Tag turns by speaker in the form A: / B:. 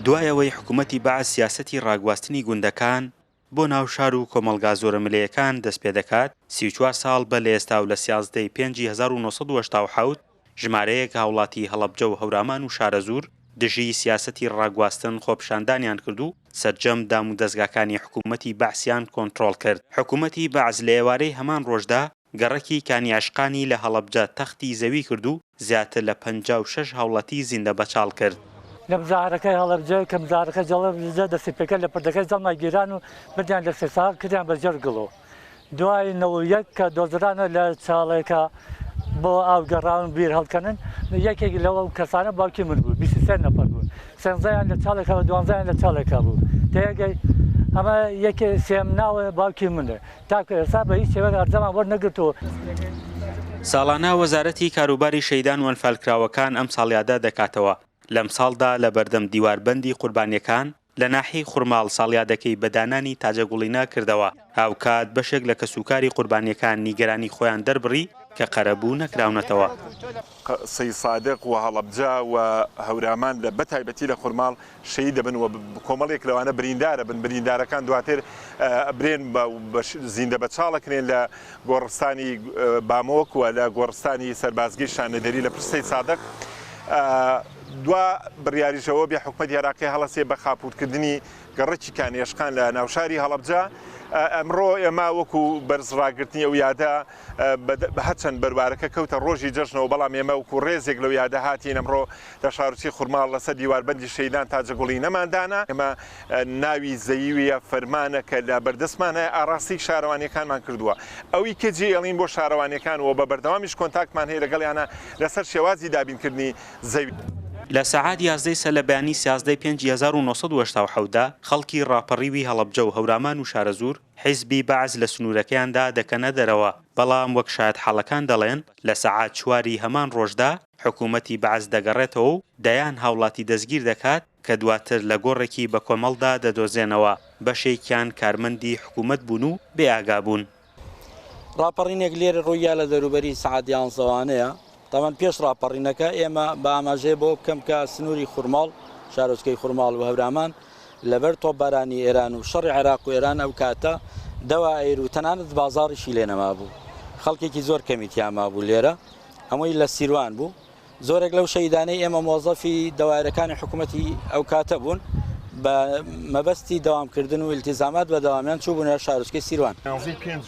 A: دوای ئەوەی حکوومەتی بەعس سیاسەتی ڕاگواستنی گوندەکان بۆ ناو شار و کۆمەڵگا زۆرە ملێیەکان دەست پێ دەکات، سی و چوار ساڵ بە لە ئێستا و لە سیازدە ی پێنج ی هەزار و نۆ سەد و هەشتا و حەوت ژمارەیەک هاوڵاتی هەڵەبجە و هەورامان و شارەزوور دژی سیاسەتی ڕاگواستن خۆپیشاندانیان کرد و سەرجەم دام و دەزگاکانی حکوومەتی بەعسیان کۆنترۆڵ کرد. حکوومەتی بەعس لە ئێوارەی هەمان ڕۆژدا، گەڕەکی کانیعشقانی لە هەڵەبجە تەختی زەوی کرد و زیاتر لە پەنجا و شەش هاوڵاتی زیندە بەچاڵ کرد. لە بزاهرەکەی
B: هەڵەبجە کە بزاهرەکە جەڵەبجە دەستی پێکرد لە پردەکەی زەڵمای گیران و بردیان لە سێساغ کردیان بە ژێر گڵۆ دوای نەوە و یەک کە دۆزرانە لە چاڵێکا بۆ ئاو گەڕاون بیر هەڵکەنن یەکێک لەو کەسانە باوکی من بوو بیست و سێ نەفەر بوون سێنزەیان لە چاڵێکا و دوانزەیان لە چاڵێکا بوو تێگەی ئەمە یەکێ سێم ناوە باوکی منە. تاکو ئێستا بە هیچ شێوەیەک ئەرجامان وەرنەگرتووە.
A: ساڵانە وەزارەتی کاروباری شەهیدان وەنفالکراوەکان ئەم ساڵیادە دەکاتەوە، لەمساڵدا لەبەردەم دیوار بەندی قوربانیەکان لە ناحیەی خورماڵ ساڵیادەکەی بە دانانی تاجە گوڵینە کردەوە، هاوکات بەشێک لە کەسوکاری قوربانیەکان نیگەرانی خۆیان دەربڕی کە قەرەبوو نەکراونەتەوە. قسەی
C: سادق وهەڵەبجە و هەورامان لە بەتایبەتی لە خورماڵ شەهید دەبن و کۆمەڵێک لەوانە بریندار ئەبن، بریندارەکان دواتر ئەبرێن و زیندە بەچاڵ ئەکرێن لە گۆڕستانی بامۆک و لە گۆڕستانی سەربازگەی شانەدەری لە پشت سەید سادق دوا بڕیاریش ئەوە بێ حکومەتی عێراقی هەڵەسێ بە خاپوورکردنی گەڕەکی کانێشقان لە ناوشاری هەڵەبجە ئەمڕۆ ئێمە وەکو بەرز ڕاگرتنی ئەو یادە بە هەرچەند بەروارەکە کەوتە ڕۆژی جەژنەوە بەڵام ئێمە وەکو ڕێزێک لەو یادە هاتین ئەمڕۆ لە شارچی خورماڵ لەسەر دیواربەندی شەیدان تاجەگوڵی نەمان دانا ئێمە ناوی زەیویە فەرمانە کە لە بەردەستمان هەیە ئاڕاستەی شارەوانیەکانمان کردووە ئەوی کە جێ ئەڵین بۆ شارەوانیەکان و بە بەردەوامیش کۆنتاکتمان هەیە لەگەڵیانە لەسەر شێوازی دابینکردنی زەوی. لە سەعات
A: یازدەی سەر لە بەیانی سیازدە ی پێنجی هەزار و نۆ سەد و هەشتا و حەوت دا خەڵکی ڕاپەڕیوی هەڵەبجە و هەورامان و شارەزوور، حیزبی بەعس لە سنوورەکەیاندا دەکەنە دەرەوە، بەڵام وەک شایەتحاڵەکان دەڵێن، لە سەعات چوار ی هەمان ڕۆژدا حکوومەتی بەعس دەگەڕێتەوە و دەیان هاوڵاتی دەستگیر دەکات کە دواتر لە گۆڕێکی بەکۆمەڵدا دەدۆزێنەوە، بەشێکیان کارمەندی حکوومەت بوون و بێئاگا بوون.
D: ڕاپەڕینێک لێرە ڕووی یا لە دەوروبەری سەعات یانزەوانەیە تەمەن پێش ڕاپەڕینەکە ئێمە بە ئاماژەیە بەوە بکەم کە سنووری خورماڵ، شارۆچکەی خورماڵ و هەورامان لەبەر تۆپبارانی ئێران و شەڕی عێراق و ئێران ئەو کاتە دەوا ئەیر و تەنانەت بازاڕیشی لێ نەمابوو. خەڵکێکی زۆر کەمی تیا مابوو لێرە هەمووی لە سیروان بوو. زۆرێک لەو شەهیدانەی ئێمە مۆزەفی دەوایرەکانی حکوومەتی ئەو کاتە بوون بە مەبەستی دەوامکردن و ئیلتیزامات بە دەوامیان چووبوونە شارۆچکەی سیروان. نزیک پێنج